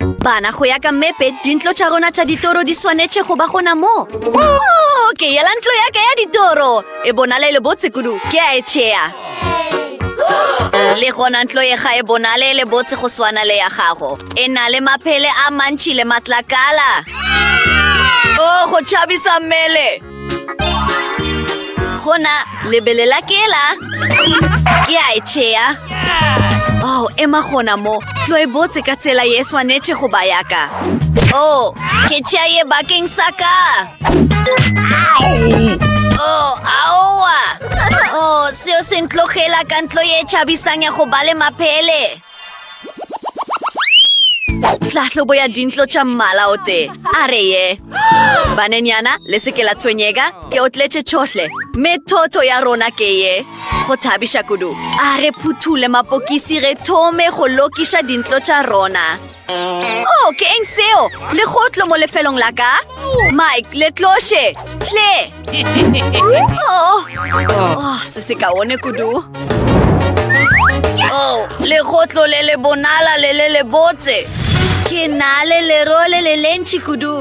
Bana, go ya ka mmepe, dintlo tša rona tša ditoro di swanetše go ba gona mo. Oh, ke yela ntlo ya ka ya ditoro. E bonala e le botse kudu. Ke a e tšea. Le gona ntlo ye ga e bonale e le botse go swana le ya gago. E na le maphele a mantši le matlakala. Oh, go tšhabisa mmele. Gona, lebele la ke la. Ke a e tšea. Oh, ema gona mo. Tlo e botse ka tsela ye swanetše go ba yaka. Oh, ke tšea ye bakeng sa ka. Oh, aowa. Oh, seo se ntlogela ka ntlo ye tšhabisang ya go ba le maphele. tlahlobo ya dintlo tša mmala o tee a re ye banenyana le seke la tshwenyega ke o tletše tšhohle mme thotho ya rona ke ye go thabiša kudu a re phuthule mapokisi re thome go lokiša dintlo tša rona o oh, ke eng seo legotlo mo lefelong la ka mike letloše tle Oh, oh, se se kaone kudu oh, legotlo le le bonala le le le botse ke na le lero le le lentši kudu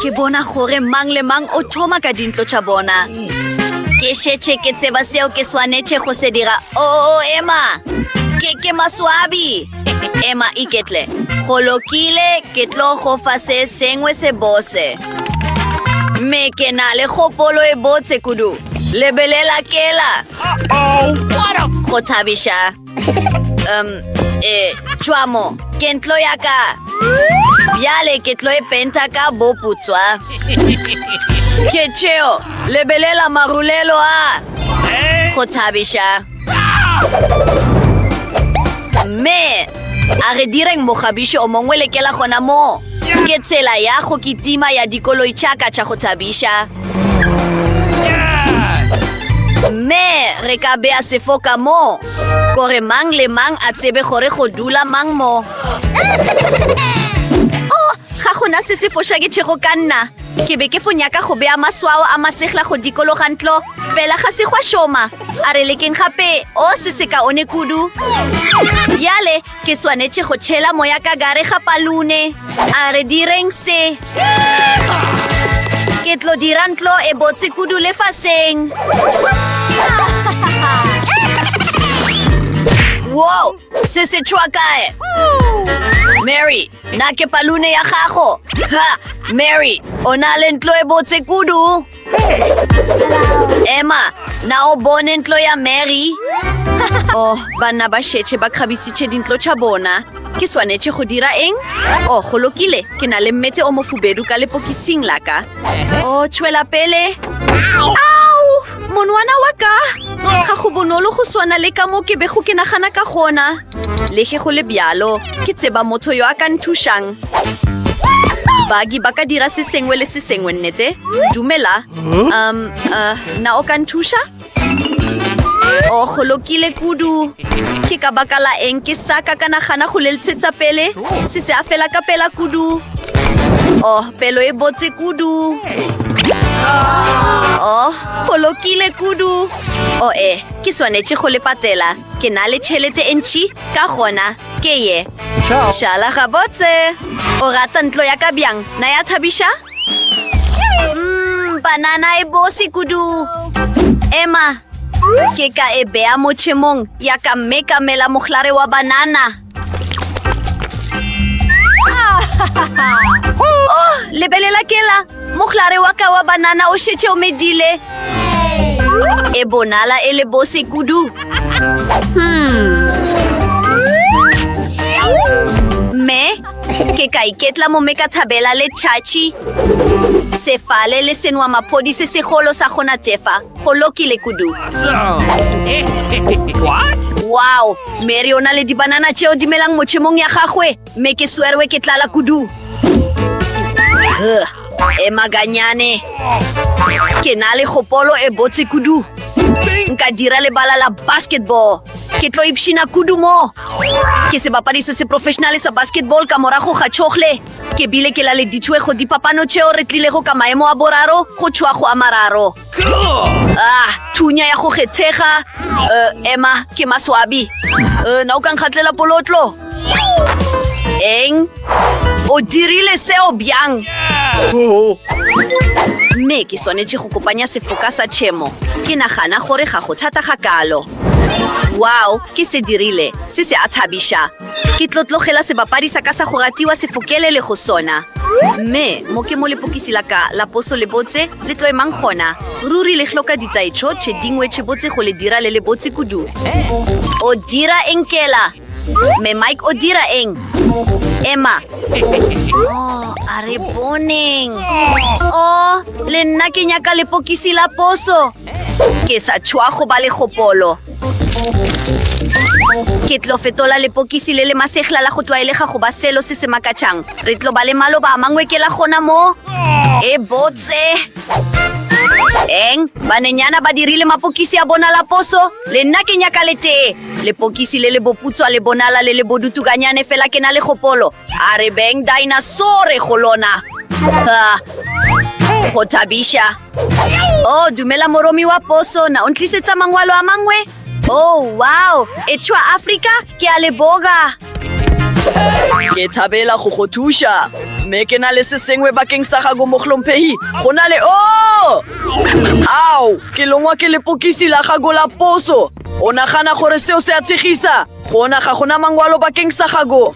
ke bona gore mang le mang o thoma ka dintlo tša bona ke šetše ke tseba seo ke swanetše go se dira o oh, ema ke ke maswabi ema iketle go lokile ke tlo go fa se sengwe se bose Mme ke na le kgopolo e botse kudu. Lebelela kela. Go thabiša. Um, e, tšwamo, ke ntlo ya ka. Bjale ke tlo e penta ka boputswa. Ke tšeo, lebelela marulelo a. Go thabiša. mme a re direng mogabiši o mongwe lekela gona moo ke tsela ya go kitima ya dikoloi tšaka tša go thabiša mme re ka bea sefo ka moo gore mang le mang a tsebe gore go dula mang mo o oh, ga gona se se foša ke tšhego ka nna ke be ke fo nyaka go bea maswao a masegla go dikologa ntlo Fela ga se gwa šoma. A re lekeng gape. O se se kaone kudu. Bjale ke swanetše go tšhela moya ka gare ga palune. A re direng se. Ke tlo dira ntlo e botse kudu lefaseng. Wow, se se tšhwa kae? Mary, na ke palune ya gago? Ha, Mary, o na le ntlo e botse kudu. emma na o bone ntlo ya mary oh banna ba šetše ba kgabisitše dintlo tša bona ke swanetše go dira eng oh go lokile ke na le mmete o mofubedu ka lepokising la ka o oh, tšwela pele ao monwana wa ka ga go bonolo go swana le ka mo ke bego ke nagana ka gona Le ge go le bjalo, ke tseba motho yo a ka nthušang. Bagi ba ka dira se sengwe le se sengwe, nnete? Dumela. Um, uh, na o ka nthuša? O oh, golokile kudu. Ke ka baka la eng ke sa ka ka nagana go leltshetsa pele? Se se a fela ka pela kudu. Oh, pelo e botse kudu. Oh, golokile kudu. Oh, eh, ke swanetše go le patela. Ke na le tšhelete e ntši, ka gona ke ye. Šala gabotse. O rata ntlo ya ka bjang, na ya thabiša? Mm, banana e bose kudu. Emma, ke ka e bea motšhemong ya ka mme ka mela mohlare wa banana. Oh, lebelela kela mohlare wa ka wa banana o šetše o medile e bonala e le bose kudu hmm. mme ke ka iketla mo me ka thabela le tšhatšhi sefale le senwa maphodi se segolo sa gona tefa Go lokile kudu. Wow, Mary o na le dibanana tšeo di melang mochemong ya gagwe, mme ke swerwe ke tlala kudu. E maganyane. Ke na le gopolo e botse kudu. Nka dira lebala la basketball. Ke tlo ipshina kudu mo. Ke sebapadi se se professionale sa basketball ka morago ga chogle. Ke bile ke laleditšwe go dipapano tšeo re tlilego ka maemo a boraro go tšhoa go a mararo. Ah, thunya ya go kgethega. Uh, Emma, ke maswabi. Uh, na o ka nkgatlela polotlo? Eng? O dirile seo bjang? Oh. Mme ke swanetše go kopanya sefoka sa tšhemo. Ke nagana gore ga go thata ga kalo. Wow, ke se dirile. Se se a thabiša. Ke tlo tlogela sebapadi sa ka sa go ratiwa se fokelele go sona. Mme, mo ke mo lepokisi la ka la poso le botse, le tlo emang gona. Ruri le hloka ditaetšho tše dingwe tše botse go le dira le le botse kudu. O dira eng kela? Mme Mike o dira eng? Emma. Oh, a re boneng. Oh, le nna ke nyaka lepokisi la poso. Ke sa tšhwa go ba le kgopolo. Ke tlo fetola lepokisi le le masegla la go tlwaelega go ba selo se se makatšang. Re tlo ba le maloba a mangwe ke la gona mo. E botse! Eng? Banenyana ba dirile mapokisi a bona la poso? Le nna ke nyaka le tee. Lepokisi le le boputswa le bonala le le bodutukanyane fela ke na le gopolo. A re beng dinasaur go lona. Ah, go thabiša. Oh, dumela moromi wa poso, na o ntlisetsa mangwalo a mangwe? Oh, wow, e tšhwa Afrika, ke a le boga. Ke thabela go go thuša, mme ke na le se sengwe bakeng sa gago mohlomphegi. Go na le o! Oh! Ao, ke longwa ke lepokisi la gago la poso. O nagana gore seo se a tshegisa? Gona ga gona mangwalo bakeng sa gago.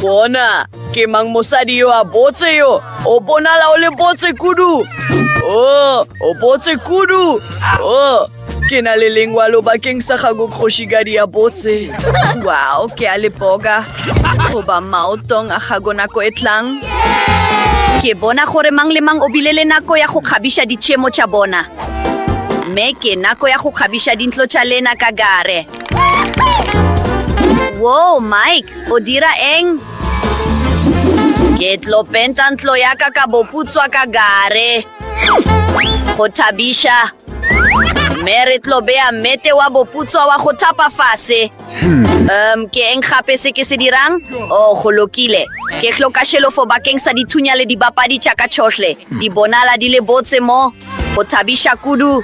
Gona ke mang mosadi yo a botse yo? O bonala o le botse kudu. O, o botse kudu. O, ke na le lengwalo bakeng sa gago kgošigadi ya botse. Wow, ke a le boga. Goba maotong a gago nako e tlang. Ke bona gore mang le mang o bile le nako ya go kgabiša ditšhemo tša bona. Mme ke nako ya go kgabiša dintlo tša lena ka gare. Woo, Mike, o dira eng? Ke tlo penta ntlo ya ka ka boputswa ka gare. Go thabiša. Mme re tlo beya mete wa boputswa wa go thapa fase. Um, ke eng gape se ke se dirang? Oh, go lokile. Ke hloka šelofo bakeng sa dithunya le dibapadi tša ka tšhohle. Di bonala di le botse mo. Go thabiša kudu.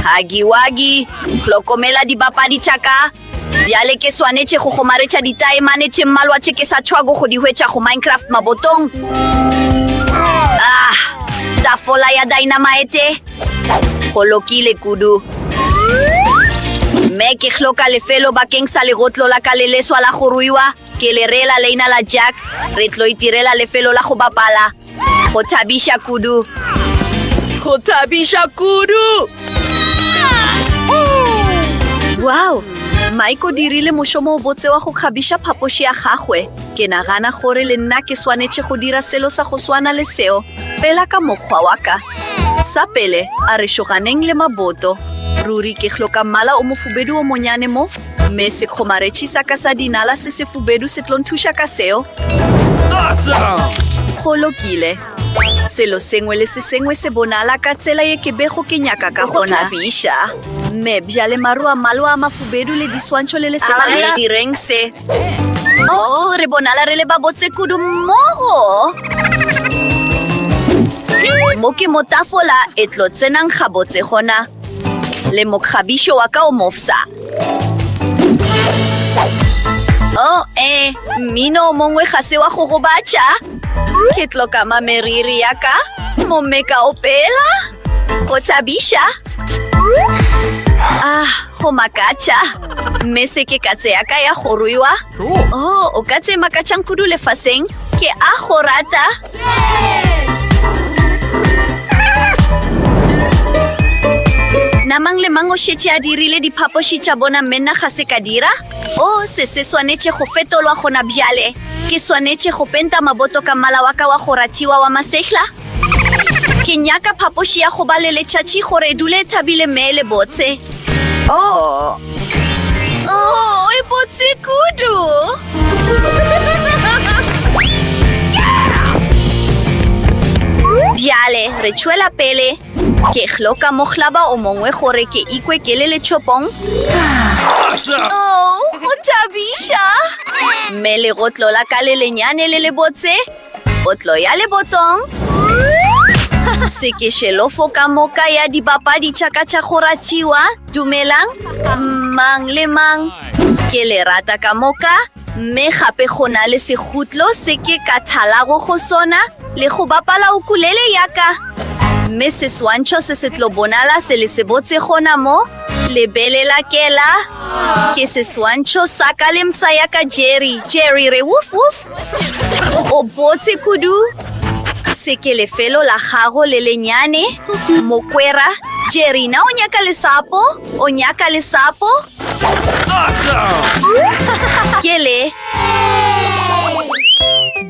Hagi wagi, hlokomela dibapadi tša ka. Bjale ke swanetše go kgomaretša ditaemane tše mmalwa tše ke sa tšhwago go di hwetša go Minecraft mabotong. Ah, tafola ya dynamite. Go lokile kudu. Mme ke hloka lefelo bakeng sa legotlo la ka le leswa la go ruiwa. Ke le reela leina la Jack, re tlo itirela lefelo la go bapala. Go thabiša kudu! Go thabiša kudu! Wow! Mike o dirile mošomo o botse wa go kgabiša phapoši ya gagwe. Ke nagana gore le nna ke swanetše go dira selo sa go swana le seo, fela ka mokgwa wa ka. Sa pele, a re šoganeng le maboto. Ruri ke hloka mmala o mofubedu o monyane mo. Mme sekgomaretši sa ka sa dinala se sefubedu se tlo nthuša ka seo. Go lokile. Selo sengwe le se sengwe se bonala ka tsela ye ke bego ke nyaka ka gona. Biša. Mme bjale maru a mmalwa a mafubedu le diswantšho le lesema le la direng se. Oh, re bonala re le ba botse kudu mmogo. Mo ke mo tafola e tlo tsenang gabotse gona. Le mokgabišo wa ka o mofsa. Oh, eh, mmino o mongwe ga se wa go gobatša. Ke tlokama meriri ya ka, momme ka opela, go thabiša. Ah, go makatša. Mme se ke katse ya ka ya go ruiwa. Oh, o katse makatšang kudu lefaseng. Ke a go rata. Na mang le mang o šetše a dirile diphapoši tša bona mme nna ga se ka dira? O, se se swanetše go fetolwa gona bjale. Ke swanetše go penta maboto ka mmala wa ka wa go ratiwa wa masehla? Ke nyaka phapoši ya go ba le letšatši gore e dule e thabile mme e le botse. O, Oh, e botse kudu! Bjale, re tšwela pele. Ke hloka mohlaba o mongwe gore ke ikwe ke le letšhopong. Oh, go thabiša! Mme legotlo la ka le lenyane le le botse Potlo ya lebotong. Sekešelofo ka moka ya dibapadi tša ka tša go ratiwa. Dumelang, mang le mang. Ke le rata ka moka, mme gape go na le segutlo se ke ka thalago go sona le go bapala ukulele ya ka. Mme seswantšho se se tlo bonala se le se botse gona mo, lebelela kela. Ke seswantšho sa ka le mpsa ya ka Jerry. Jerry re woof woof. O botse kudu ka seke lefelo la gago le lenyane mokwera jerina o nyaka lesapo o nyaka lesapo ke le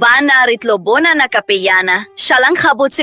bana re tlo bonana ka pejana šalang gabotse